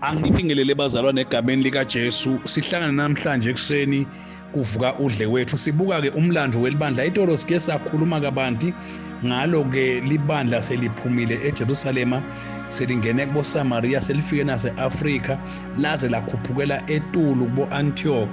angibingelele bazalwane egameni likaJesu sihlangana namhlanje ekuseni kuvuka udle wethu sibuka ke umlando welibandla itolo sike sakhuluma kabanti ngalo ke libandla seliphumile eJerusalema selingene kuboSamaria selifike naseAfrika laze lakhuphukela etulu kuboAntioch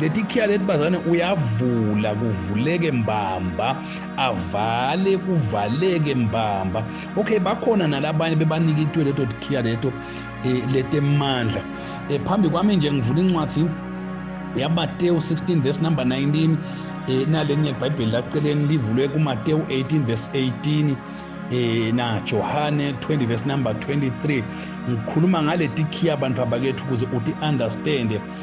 leti khiya leti bazane uyavula kuvuleke mbamba avale kuvaleke mbamba okay bakhona nalabanye bebanika itwe leto tikhiya leto eh, letemandla eh, phambi kwami nje ngivula incwadi yaMateyu 16 verse number 19 eh, nalenye ibhayibheli laceleni livulwe kuMateyu 18 verse 18 eh na Johane 20 verse number 23 ngikhuluma ngale tikhiya abantu abakethu ukuze uti understand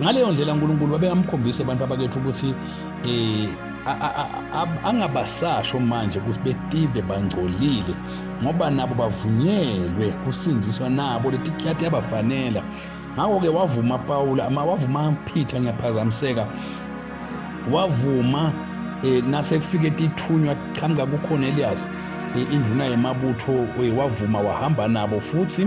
Ngaleyo ndlela uNkulunkulu wabekamkhombisa abantu abakethu ukuthi eh angabasasho manje ukuthi betive bangcolile ngoba nabo bavunyelwe kusindziswa nabo letikhati yabafanela ngakho-ke wavuma pawula ama wavuma phitha ngiyaphazamiseka wavuma eh nasekufike tithunywa qhamuka kukhona eliyasi induna yemabutho wavuma wahamba nabo futhi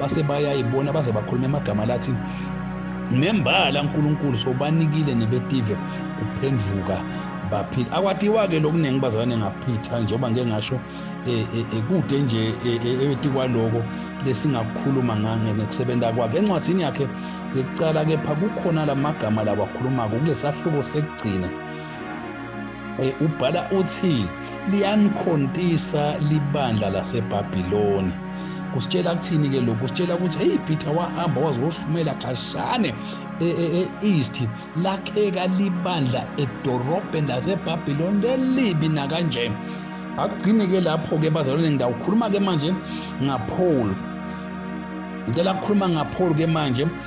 base bayayibona baze bakhuluma amagama lathi nembala uNkulunkulu sobanikile nebetive kuphenduka baphila akwathiwa-ke lokuningi bazalwane ngaphitha njengoba ngike ngasho eh, eh, eh, kude nje ethi kwaloko lesingakukhuluma ngekusebenza kwakhe encwadini yakhe yokucala kepha kukhona la magama lawakhulumako kulesahluko sekugcina Eh, ubhala uthi liyanikhontisa libandla laseBabiloni kusitshela kuthini ke lokhu kusitshela ukuthi hey Peter wahamba waze wohlumela khashane e-east e, lakheka libandla edorobheni laseBabiloni lelibi nakanje akugcini ke lapho ke bazalwane ngidawukhuluma ke manje ngaPaul ngicela ukukhuluma ngaPaul ke manje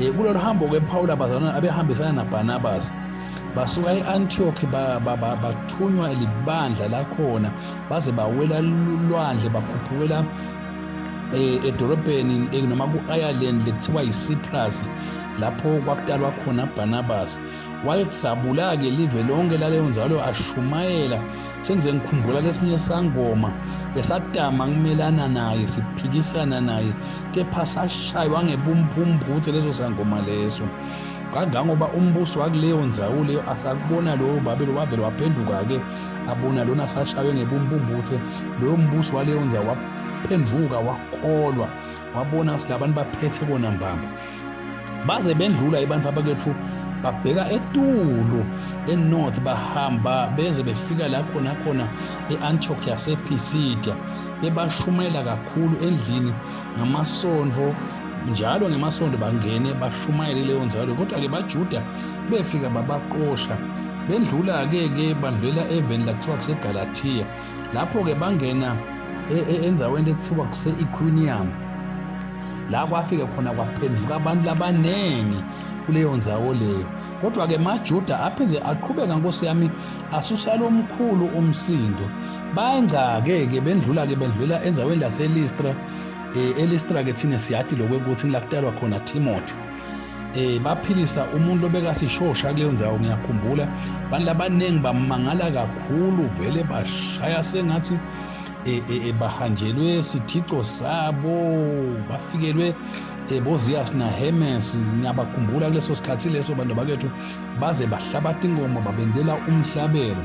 Eh, kulolu hambo ke Paul abazalwane abehambisana naBarnabas basuka e-Antioch bathunywa libandla lakhona baze bawela lulwandle bakhuphukela eh, edolobheni eh, noma ku-ireland lekuthiwa yicyprus lapho kwakutalwa khona barnabas wayesabula-ke live lonke laleyo nzalo ashumayela sengize ngikhumbula lesinye sangoma esadama kumelana naye siphikisana naye kepha sashaywa ngebumphumphuthe leso sangoma leso kangangoba umbuso wakuleyo nzawo leyo asakubona lowo babe lo wavele waphenduka-ke abona lona sashaywe ngebumpumbuthe loyo mbuso waleyo nzawo waphenduka wakholwa wabona ukuthi labantu baphethe bona mbamba baze bendlula abantu abakethu babheka etulu enorth bahamba beze befika la khona khona e-antioch yasepisidia bebashumayela kakhulu endlini ngamasonto njalo ngemasonto bangene bashumayele leyo nzalo kodwa-ke bajuda befika babaqosha bendlula-ke ke bandlulela eveni lakuthiwa kusegalatiya lapho-ke bangena e, e, enzaweni ekuthiwa kuse-equinium la kwafike khona kwaphenduka abantu labaningi kuleyo nzawo leyo kodwa-ke majuda aphinde aqhubeka nkosi yami asusa lo mkhulu umsindo bangcake-ke bendlula-ke bendlulela enzaweni laselistra um elistra-ke thina siyathi lokwekuthi lakutalwa khona timothy eh baphilisa umuntu obekasishosha kuleyo ndawo ngiyakhumbula abantu abaningi bamangala kakhulu vele bashaya sengathi eh, eh, eh, bahanjelwe sithixo sabo bafikelwe boziyas nahemes ngiyabakhumbula kuleso sikhathi leso bantu bakethu baze bahlabatha ingoma babendela umhlabelo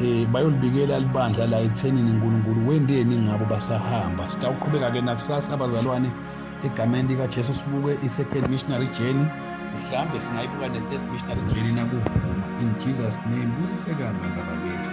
eh bayolibikela libandla la ethenini uNkulunkulu wendeni ngabo basahamba sitawuqhubeka ke nakusasa abazalwane egameni likaJesu sibuke i-second missionary journey mhlambe singayibuka ne-third missionary journey nakuvuma in Jesus name busisekani bantaba bethu